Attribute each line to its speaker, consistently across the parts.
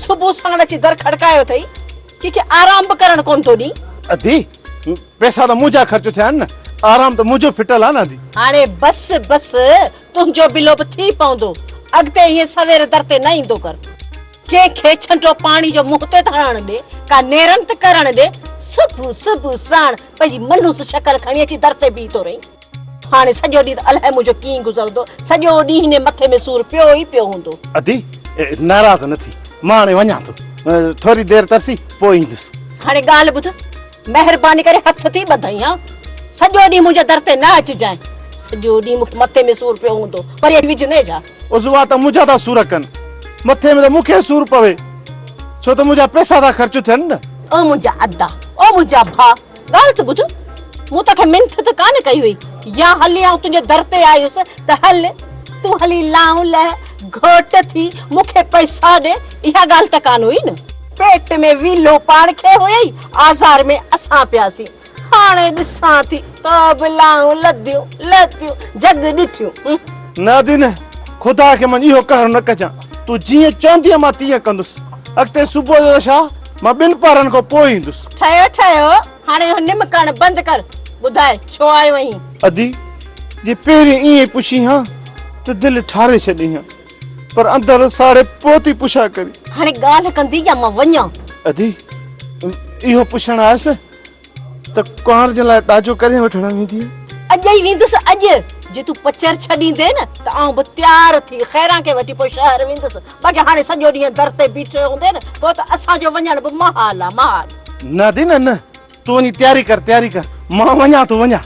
Speaker 1: صبح ساڻ اچي در کڙڪايو اٿئي ڪنهن کي آرام به ڪرڻ ڪونه ٿو ڏئي ادي
Speaker 2: پئسا ته منهنجا خرچ ٿيا آهن نه، آرام ته منهنجو ڦٽل آهي نه ادي. هاڻي بس
Speaker 1: بس، تنهنجو بلو به ٿي پوندو. اڳتي ائين سوير در تي نه ايندو ڪر. ڪنهن کي ڇنڊو پاڻي جو منهن تي ته هڻڻ ڏي، ڪا نيرن ته ڪرڻ ڏي. صبح صبح ساڻ پنهنجي منحوس شڪل کڻي اچي در تي بيهي ٿو رهين. هاڻي سڄو ڏينهن ته الائي منهنجو ڪيئن گذرندو، سڄو ڏينهن هن مٿي ۾ سور پيو ئي پيو هوندو. ادي،
Speaker 2: ناراض نه ٿي، مان هاڻي وڃان ٿو. ٿوري دير ترسي، پوء ايندس. هاڻي ڳالهه ٻڌ.
Speaker 1: مهرباني ڪري هٿ ٿي ٻڌئين ها. سڄو ڏينهن منهنجي در تي نه اچجانء. سڄو ڏينهن مون کي مٿي ۾ سور پيو هوندو. وري اچي وجهندين ڇا؟ عضوا ته منهنجا ٿا
Speaker 2: سور ڪن. مٿي ۾ ته مون کي سور پوي. ڇو ته منهنجا پئسا ٿا خرچ ٿين نه. او منهنجا ادا!
Speaker 1: او منهنجا ڀاء! ڳالهه ته ٻڌ. مون توکي منٿ ته ڪانه ڪئي هئي. يا هلي آئون تنهنجي در تي آئي هيس ته هل، تون هلي لانء لهه، گهوٽ ٿي، مون کي پئسا ڏي. اها ڳالهه ته ڪانه هئي نه. پيٽ ۾ ويلهو پاڻ کي هئي آزار ۾ اسان پياسين هاڻي ڏسان ٿي ته به لائون لديون لتيون جڳ ڏٺيون. نادين
Speaker 2: خدا کي من اهو قهر نه ڪجان تون جيئن چوندينء مان تيئن ڪندس اڳتي صبح جو ته ڇا مان ٻن پهرن کان پوء ايندس. ٺهيو ٺهيو
Speaker 1: هاڻي اهو نم ڪرڻ بند ڪر ٻڌاء ڇو آيو اهين. ادي
Speaker 2: جي پهرين ائين پڇين هان ته دل ٺاري ڇڏين هان. پر اندر ساڙي پوتي پڇا ڪري هاڻي ڳالهه ڪندي يا
Speaker 1: مان وڃان ادي
Speaker 2: اهو پڇڻ آيس ته ڪنوار جي لاء ڏاجو ڪڏهن وٺڻ ويندي اڄ ئي ويندس
Speaker 1: اڄ جي تون پچر ڇڏيندي نه ته آئون به تيار ٿي خيران کي وٺي پوء شهر ويندس باقي هاڻي سڄو ڏينهن در تي بيٺي هوندي نه پوء ته اسان جو وڃڻ به محال آ محال نه ادي نه نه
Speaker 2: تون وڃي تياري ڪر تياري ڪر مان وڃان ٿو وڃان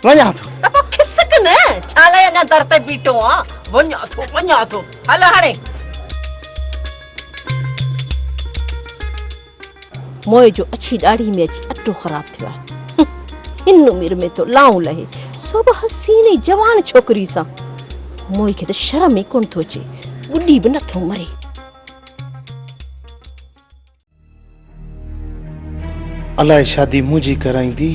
Speaker 2: وڃان ٿو. ته
Speaker 1: پوء کسڪ نه، ڇا لاء اڃا در تي بيٺو آن؟ وڃان ٿو، وڃان ٿو، هل هاڻي. موئي جو اڇي ڏاڙهي ۾ اچي اٽو خراب ٿيو آهي. هن عمر ۾ ٿو لائون لهي، سو به حسين ۽ جوان ڇوڪري سان. موئي کي ته شرم ئي ڪونه ٿو اچي، ٻڏي به نه ٿو مري.
Speaker 2: الاء شادي منهنجي ڪرائيندي،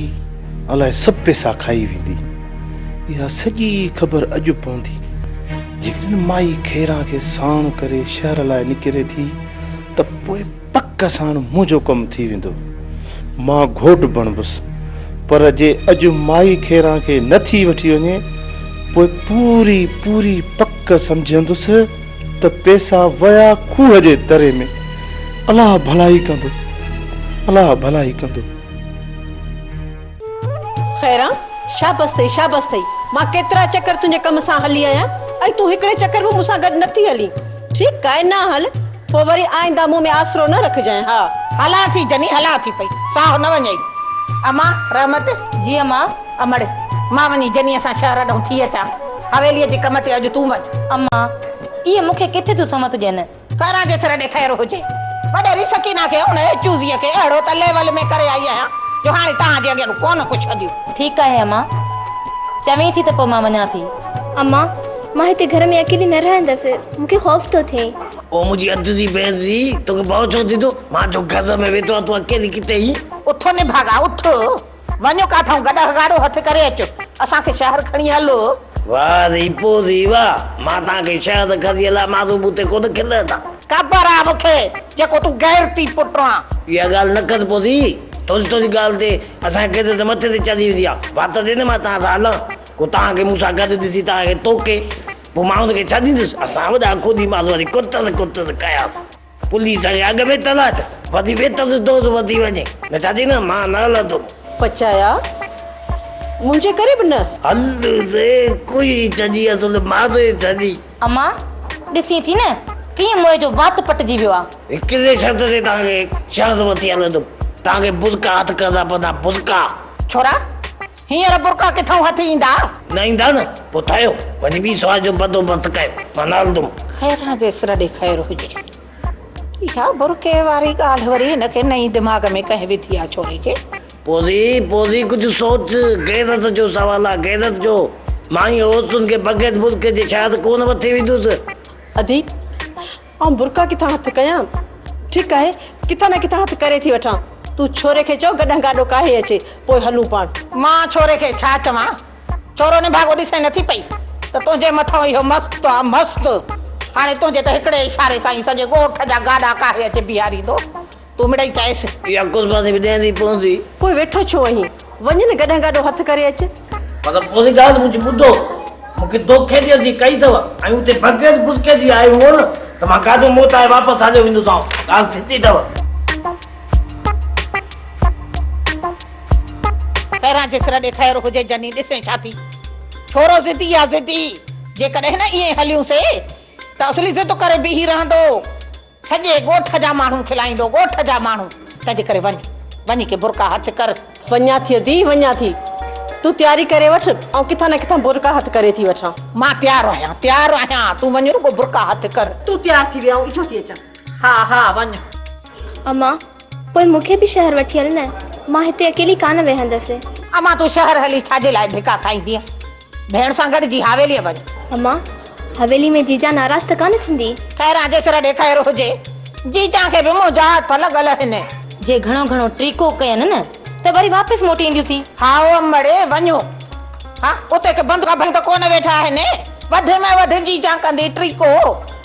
Speaker 2: الاء سڀ پيسا کائي ويندي. اها سڄي خبر اڄ پوندي. جيڪڏهن مائي خيران کي ساڻ ڪري شهر لاء نڪري ٿي ته پوء پڪ ساڻ منهنجو ڪم ٿي ويندو. مان گهوٽ بڻبس. پر جي اڄ مائي خيران کي نه ٿي وٺي وڃي، پوء پوري پوري پڪ سمجهندس. ته پيسا ويا کوهه جي دري ۾، الله ڀلائي ڪندو، الله ڀلائي ڪندو.
Speaker 1: خيران، شابس اٿئي، شابس اٿئي، مان ڪيترا چڪر تنهنجي ڪم سان هلي آهيان ۽ تون هڪڙي چڪر به مون سان گڏ نٿي هلين. ٺيڪ آهي نه هل، پوء وري آئنده مون ۾ آسرو نه رکجانء. ها. هلان ٿي جني،
Speaker 3: هلان ٿي پئي، ساهه نه وڃئي. امان، رحمت! جي امان!
Speaker 4: امڙ!
Speaker 3: مان وڃي جنيء سان شهر ڏانهن ٿي اچان. حويليء جي ڪم تي اڄ تون وڃ. امان!
Speaker 4: اهي مون کي ڪٿي ٿيون سمت ڏين. خيران جي سر ڏي
Speaker 3: خير هجي. وڏيري سڪينه کي ان ايچوزيء کي اهڙو ته ليول ۾ ڪري آئي آهيان جو هاڻي توهان جي اڳيان ڪونه ڪو ڇڏيون. ٺيڪ آهي امان!
Speaker 4: چوين ٿي ته پوء مان وڃان ٿي. امان!
Speaker 5: مان هتي گهر ۾ اڪيلي نه رهندس. مون کي خوف ٿو ٿئي. او منهنجي اڌ ڌي
Speaker 6: ڀيڻ جي! توکي ڀؤ ڇو ٿي ٿو؟ مان جو گهر ۾ ويٺو آهيان تون اڪيلي ڪٿي آهين؟ اٿ نڀاڳا
Speaker 3: اٿ! وڃ ڪاٿئون گڏهه ڳاڙهو هٿ ڪري اچ اسان کي شهر کڻي هل. واه ذي
Speaker 6: پو ذي واه مان تان کي شهد کزي لا مان تون بوتي ڪونه کلي ٿا. خبر آ مون
Speaker 3: کي جيڪو تون غيرتي پٽ آن. اها ڳالهه نه ڪر
Speaker 6: پو ذي تنهنجي تنهنجي ڳالهه تي اسان جي قيد تي مٿي تي چڙهي ويندي آ وات ڏي نه مان تان سان هلان ڪو تان کي مون سان گڏ ڏسي تان کي توڪي پو مان ان کي ڇڏيندس اسان وڏا کودي ماس وري ڪٽس ڪٽس ڪياس. پوليس جي اڳ ۾ تلاش وڌي ويت جو دوز وڌي وڃي بيٽا جي نه مان نه هلندم. پچايا
Speaker 1: منهنجي ڪري به نه. هل سي
Speaker 6: ڪوهي ڇڏي اصل ماري ڇڏي. اما
Speaker 4: ڏسين ٿي نه ڪيئن موئي جو وات پٽجي ويو آ. هڪڙي شرط تي توهان
Speaker 6: کي شهر وٺي هلندم توهان کي برقعا هٿ ڪرڻا پوندا برقعا. ڇورا
Speaker 3: هينئر برقعا ڪٿئون هٿ ايندا؟ نه ايندا نه،
Speaker 6: پوء ٿايو وڃي ٻي سوار جو بندوبست ڪيو، مان نه هلندم. خيران جي سر ڏي
Speaker 3: خير هجي. اها برقعي واري ڳالهه وري هن کي نئين دماغ ۾ ڪنهن وڌي آ ڇوري کي. پوزي، پوزي
Speaker 6: ڪجهه سوچ، غيرت جو سوال آ، غيرت جو. مان هيء عورتن کي بغير برقعي جي شايد ڪونه وٺي ويندس. ادي!
Speaker 1: آئون برقعا ڪٿان هٿ ڪيان؟ ٺيڪ آهي، ڪٿان نه ڪٿان هٿ ڪري ٿي وٺان. تون ڇوري کي چئو گڏهن گاڏو ڪاهي اچي، پوء هلون پاڻ. مان ڇوري کي
Speaker 3: ڇا چوان؟ ڇورو نڀاڳو ڏسين نٿي پئي ته تنهنجي مٿئون اهو مست آ مست! هاڻي تنهنجي ته هڪڙي اشاري سان ئي سڄي ڳوٺ جا گاڏا ڪاهي اچي بيهاريندو. تو مڙئي چائيس. اها ڪس مان ٿي وڏيان
Speaker 6: ٿي پوندي. پوء ويٺو ڇو آهين؟
Speaker 1: وڃ نه گڏهن گاڏو هٿ ڪري اچ. مطلب پوري
Speaker 6: ڳالهه منهنجي ٻڌو. مون کي دوکي جي اڌي ڪئي اٿو ۽ اتي بغير بسڪي جي آيو هئو نه ته مان گاڏو موٽائي واپس هليو ويندوسانو. ڳالهه سڌي اٿو.
Speaker 3: پهريان جي سر ڏي خير هجي جني ڏسين ڇا ٿي. ڇورو ضدي آ ضدي. جيڪڏهن نه ائين هليون سي ته اصلي ضد ڪري بيهي رهندو. سڄي ڳوٺ جا ماڻهو کلائيندو ڳوٺ جا ماڻهو تنهنجي ڪري وڃ وڃي ڪي برقعا هٿ ڪر. وڃان ٿي ادي
Speaker 1: وڃان ٿي تون تياري ڪري وٺ آئون ڪٿان نه ڪٿان برقعا هٿ ڪري ٿي وٺان. مان تيار آهيان
Speaker 3: تيار آهيان تون وڃ رڳو برقعا هٿ ڪر. تون تيار ٿي ويهه آئون
Speaker 1: ايٺو ٿي اچان. ها ها وڃ.
Speaker 3: امان
Speaker 5: پوء مون کي به شهر وٺي هل نه مان هتي اڪيلي ڪانه ويهندس. امان تون شهر
Speaker 3: هلي ڇا جي لاء ڌڪا کائيندينء ڀيڻ سان گڏ جي حاويليء وڃ. اما!
Speaker 5: حويلي ۾ جيجان ناراض ته ڪانه ٿيندي؟ خيران جي سر ڏي
Speaker 3: خير هجي. جيجان کي به منهنجا هٿ لڳل هن. جي گهڻو گهڻو
Speaker 4: ٽيڪو ڪين نه ته وري واپس موٽي اينديونسين. هائو امڙي
Speaker 3: وڃو. ها اتي ڪي بند گاڀڻ ته ڪونه ويٺا آهن. وڌ ۾ وڌ جيجان ڪندي ٽيڪو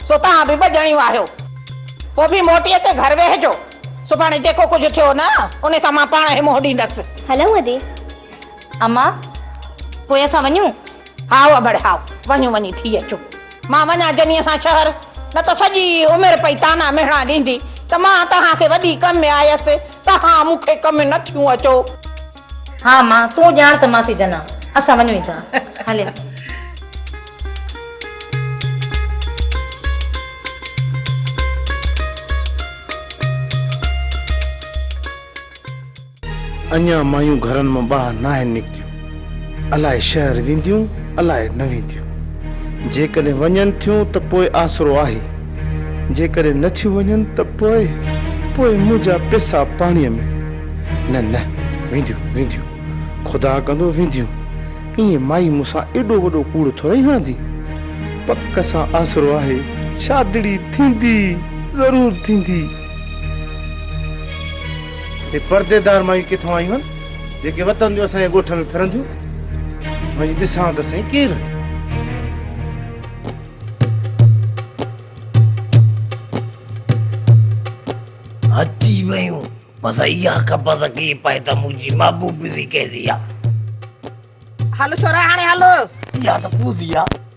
Speaker 3: سو توهان به ٻه ڄڻيون آهيو. پوء به موٽي اچي گهر ويهجو. سڀاڻي جيڪو ڪجهه ٿيو نه ان سان مان پاڻ هي منهن ڏيندس. هلئون ادي.
Speaker 5: اما،
Speaker 4: پوء اسان وڃون؟ هائو ابڙ
Speaker 3: هائو، وڃون وڃي ٿي اچون. مان وڃان جنيء سان شهر، نه ته سڄي عمر پئي طعنا مهڻا ڏيندي ته مان توهان کي وڏي ڪم ۾ آيس، توهان مون کي ڪم ۾ نه ٿيون اچو. ها
Speaker 4: اما، تون ڄاڻ ته ماسي جن آ، اسان وڃون ئي ٿا. هليا.
Speaker 2: اڃان مايون گهرن مان ٻاهر ناهن نڪتيون، الاء شهر وينديون الاء نه وينديون. جيڪڏهن وڃن ٿيون ته پوء آسرو آهي، جيڪڏهن نه ٿيون وڃن ته پوء، پوء منهنجا پيسا پاڻيء ۾. نه نه، وينديون وينديون، خدا ڪندو وينديون. ائين مائي مون سان ايڏو وڏو ڪوڙ ٿورئي هڻندي. پڪ سان آسرو آهي، شادڙي ٿيندي، ضرور ٿيندي. هي پرديدار مائيون ڪٿان آيون آهن جيڪي وتن جو اسان جي ڳوٺ ۾ ڦرنديون وڃي ڏسان ته سائين ڪير آهن
Speaker 6: اچي ويون بس اها قبض ڪي پئي ته منهنجي محبوبي به ڪهڙي آ هل ڇورا هاڻي
Speaker 3: هل اها ته پوزي
Speaker 6: آ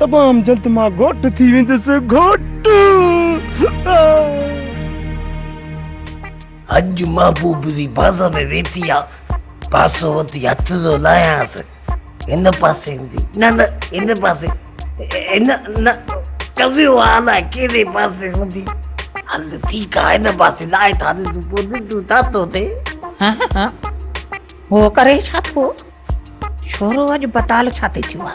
Speaker 2: تمام جلد مان گهوٽ ٿي ويندس گهوٽ.
Speaker 6: اڄ محبوب جي بازو ۾ ويٺي آ بازو وٺي هٿ ٿو لاهيانس هن پاسي هوندي نه نه هن پاسي نه نه ڪزيو آ الاء ڪهڙي پاسي هوندي هل ٺيڪ آ هن پاسي لاهي ٿا ڏسون پوء ڏسجون ڇا ٿو ٿئي.
Speaker 3: ها ها هو ڪري ڇا ٿو ڇورو اڄ بتال ڇاتي ٿيو آ.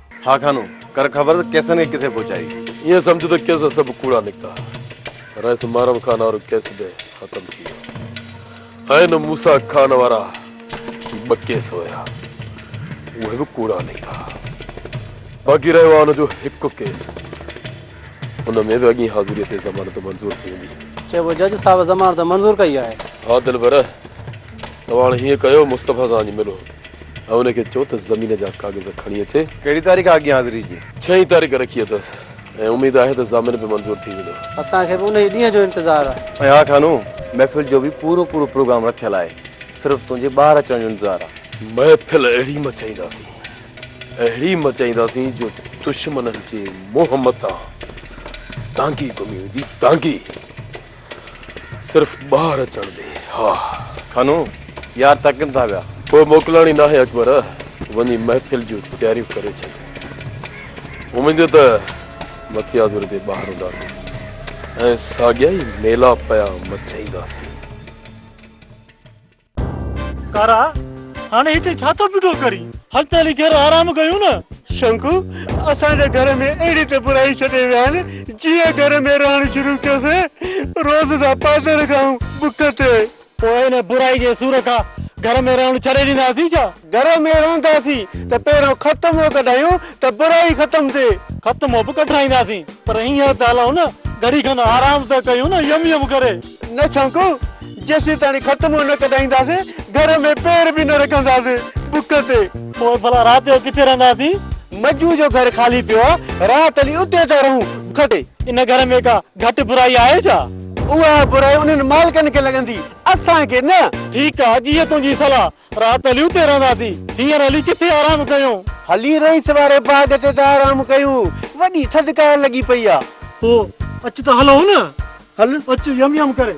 Speaker 6: ها خانو!
Speaker 7: ڪر خبر ته ڪيسن کي ڪٿي پهچائي. ائين سمجهه ته ڪيس
Speaker 8: سڀ ڪوڙا نڪتا. رئيس محرم خان وارو ڪيس به ختم ٿي ويو. ائين موسيٰ خان وارا ٻه ڪيس هيا. اهي به ڪوڙا نڪتا. باقي رهيو آهي ان جو هڪ ڪيس. ان ۾ به اڳئين حاضريء تي ضمانت منظور ٿي ويندي. چئبو جج صاحب
Speaker 9: ضمانت منظور ڪئي آهي. ها دلبر!
Speaker 8: توهان هاڻ هيئن ڪيو مصطفيٰ سان وڃي ملو. ۽ ان کي چئو ته زمين جا ڪاغذ کڻي اچي. ڪهڙي تاريخ آهي اڳين حاضري
Speaker 7: جي؟ ڇهين تاريخ رکي اٿس
Speaker 8: ۽ اميد آهي ته ضامن به منظور ٿي ويندو. اسان کي به انهيء ڏينهن
Speaker 9: جو انتظار آهي. ۽ ها خانو!
Speaker 7: محفل جو به پورو پورو پروگرام رٿيل آهي. صرف تنهنجي ٻاهر اچڻ جو انتظار آهي. محفل اهڙي
Speaker 8: مچائينداسين، اهڙي مچائينداسين جو دشمنن جي منهن مٿان دانگي گهمي ويندي، دانگي! صرف ٻاهر اچڻ ڏي ها. کنو،
Speaker 7: يار تڪن ٿا پيا. پوء موڪلڻي ناهي
Speaker 8: اڪبر، وڃي محفل جون تياريون ڪري ڇڏ. اميد ته مٿيازوري تي ٻاهر هونداسين ۽ ساڳيا ئي ميلا پيا مچائينداسين.
Speaker 10: ڪارا، هاڻي هتي ڇا ٿو پيٽو ڪرين؟ هل ته هلي گهر آرام ڪيون نه. شنڪو، اسان جي گهر ۾ اهڙي ته برائي ڇڏي ويا آهن، جيئن گهر ۾ رهڻ شروع ڪيو سين، روز جا پادر کائون بک تي. پوء ان برائي جي سور کان گهر ۾ رهڻ ڇڏي ڏينداسين ڇا؟ گهر ۾ رهنداسين ته پهريون ختمو ڪڍايون ته برائي ختم ٿئي. ختمو به ڪڍرائينداسين پر هينئر ته هلون نه گهڙي کن آرام ته ڪيون نه يم يم ڪري. نه ڇنڪون جيسيتاڻي ختمو نه ڪڍائينداسين گهر ۾ پير به نه رکنداسين بک تي. پوء ڀلا رات جو ڪٿي رهنداسين. مجو جو گهر خالي پيو آ رات هلي اتي ٿا رهون بک تي. ان گهر ۾ ڪا گهٽ برائي آهي ڇا؟ اها برائي انهن مالڪن کي لڳندي اسان کي نه. ٺيڪ آ جيئن تنهنجي صلاح. رات عليء تي رهندا ٿي. هينئر علي ڪٿي آرام ڪيون؟ هلي رئيس واري باغ تي ته آرام ڪيون. وڏي ٿڌڪار لڳي پئي آ. پوء اچ ته هلون نه. هل اچ يم يم ڪري.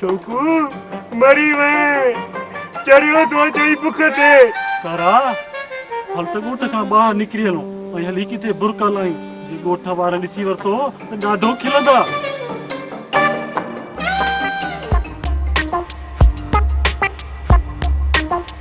Speaker 10: شوقو مري وئين چريو ٿو چئي بک تي ڪارا هل ته ڳوٺ کان ٻاهر نڪري هلون ۽ هلي ڪٿي برکا لائين جي ڳوٺ وارن ڏسي ورتو ته ڏاڍو کلندا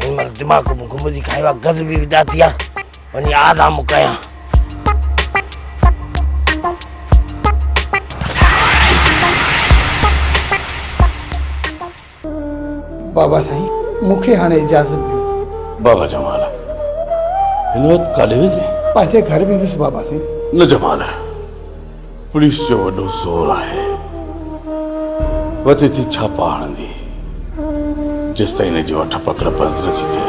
Speaker 6: هن مال دماغ ۾ گمزي کايو آهي گز به ڏاتي آ وڃي آدم ڪيان
Speaker 2: بابا سائين مونکي هاڻي اجازت ڏيو بابا جمال
Speaker 8: هن وقت ڪاڏي ويندي پنهنجي گهر ويندس
Speaker 2: بابا سائين نه جمال
Speaker 8: پوليس جو وڏو زور آهي، وڌي ٿي ڇاپا هڻندي، جيستائين هن جي وٺ پڪڙ بند نه ٿي ٿئي،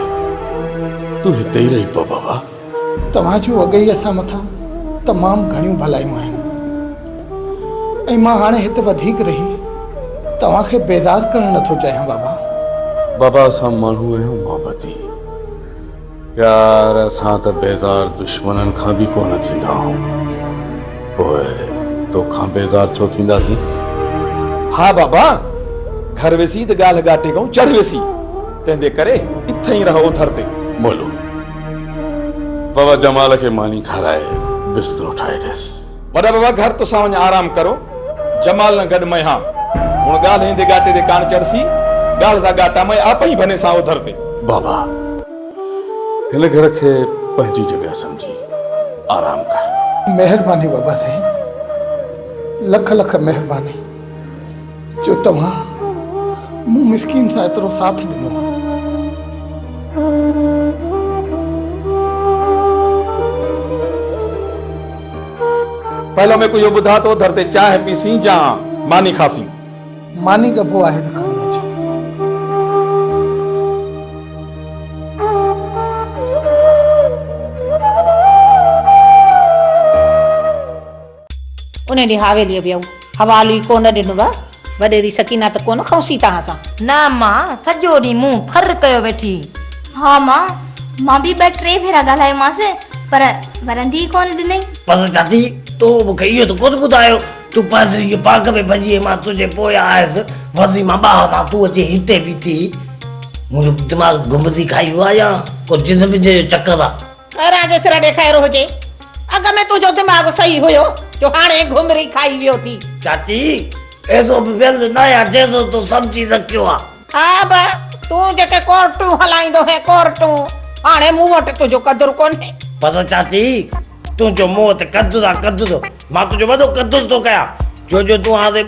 Speaker 8: تون هتي ئي رهي پوء بابا. توهان جون
Speaker 2: اڳيئي اسان مٿان تمام گهڻيون ڀلايون آهن ۽ مان هاڻي هت وڌيڪ رهي توهان کي بيزار ڪرڻ نه ٿو چاهيان بابا. بابا
Speaker 8: اسان ماڻهو آهيون محبتي. پيار اسان ته بيزار دشمنن کان به ڪونه ٿيندا آهون پوء توکان بيزار ڇو ٿينداسين؟ ها
Speaker 11: بابا گهر ويسين ته ڳالهه ڳاٽي کان چڙهه ويسين تنهنجي ڪري اٿئين رهه اوٿر تي. مولو
Speaker 8: بابا جمال کي ماني کارائي بسترو ٺاهي ڏيس. وڏا بابا گهر
Speaker 11: تسان وڃ آرام ڪرو جمال نه گڏ مئهان هن ڳالهه ايندي ڳاٽي تي ڪاڻ چڙسي ڳالهه ٿا ڳاٽا مئي آ پئي ڀني سان اوڌر تي. بابا
Speaker 8: هن گهر کي پنهنجي جڳهه سمجهي آرام ڪر. مهرباني بابا سائين
Speaker 2: لک لک مهرباني. جو توهان مون مسڪين سان ايترو ساٿ ڏنو.
Speaker 11: پهلو ميڪو اهو ٻڌاء ته اوڌر تي چانهه پيسين جا ماني کاسين؟ ماني ڳڀو
Speaker 2: آهي ته کڻي اچ.
Speaker 3: انهيء ڏينهن حويليء ويو. حوالو ئي ڪونه ڏنو آ. وڏيري سڪينه ته ڪونه کنئوسين توهان سان؟ نه ماء،
Speaker 4: سڄو ڏينهن منهن ڦر ڪيو ويٺي. ها ماء،
Speaker 5: مان به ٻه ٽي ڀيرا ڳالهايومانس، پر ورندي ئي ڪونه ڏنئي. پس چاچي،
Speaker 6: تو مون کي اهو ته ڪونه ٻڌايو، تون پنهنجي هيء پاڪ ۾ ڀڄي ۽ مان تنهنجي پويان آيس، ورندي مان ٻاهر سان تون اچي هتي بيٺي هئين. منهنجو دماغ گمبذي کائي ويو آ يا ڪو جن بنجي جو چڪر آ؟ ڪهران جي سر ڏي خير
Speaker 3: هجي. اڳ ۾ تنهنجو دماغ صحيح هيو جو هاڻي گهمري کائي ويو ٿي. چاچي
Speaker 6: ايزو به ويل نه آهيان جيزو تو سمجهي رکيو آ. ها به
Speaker 3: تون جيڪي ڪورٽون هلائيندو هين ڪورٽون هاڻي مون وٽ تنهنجو قدر ڪونهي. بس چاچي
Speaker 6: تنهنجو مون وٽ قدر آ قدر مان تنهنجو وڏو قدر ٿو ڪيان جو جو تون هاڻي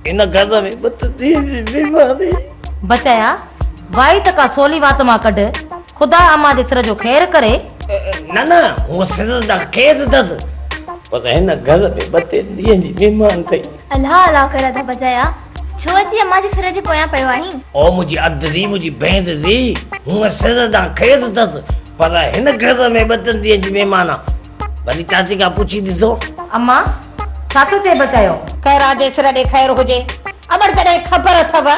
Speaker 6: هن گهر ۾ ٻه ته ڏينهن جي مهماني. بچايا
Speaker 4: واهي ته ڪا سولي وات مان ڪڍ. خدا امان جي سر جو خير ڪري. نه نه
Speaker 6: هوء سر جا قيد اٿس. پر هن گهر ۾ ٻه ٽي ڏينهن جي مهمان ٿئي. الاهه الاهه ڪري اڌ
Speaker 5: بجا يا. ڇو اچي امان جي سر جي پويان پيو آهين. او منهنجي اڌ ڌي
Speaker 6: منهنجي ڀيڻ ڌي هوء سر جا قيد اٿس. پر هن گهر ۾ ٻه ٽن ڏينهن جي مهمان آ. ڀلي چاچي کان پڇي ڏسو. امان
Speaker 4: ڇا ٿو چئي بچايو. خيران جي سر ڏي
Speaker 3: خير هجي. امڙ تڏهن خبر اٿئو.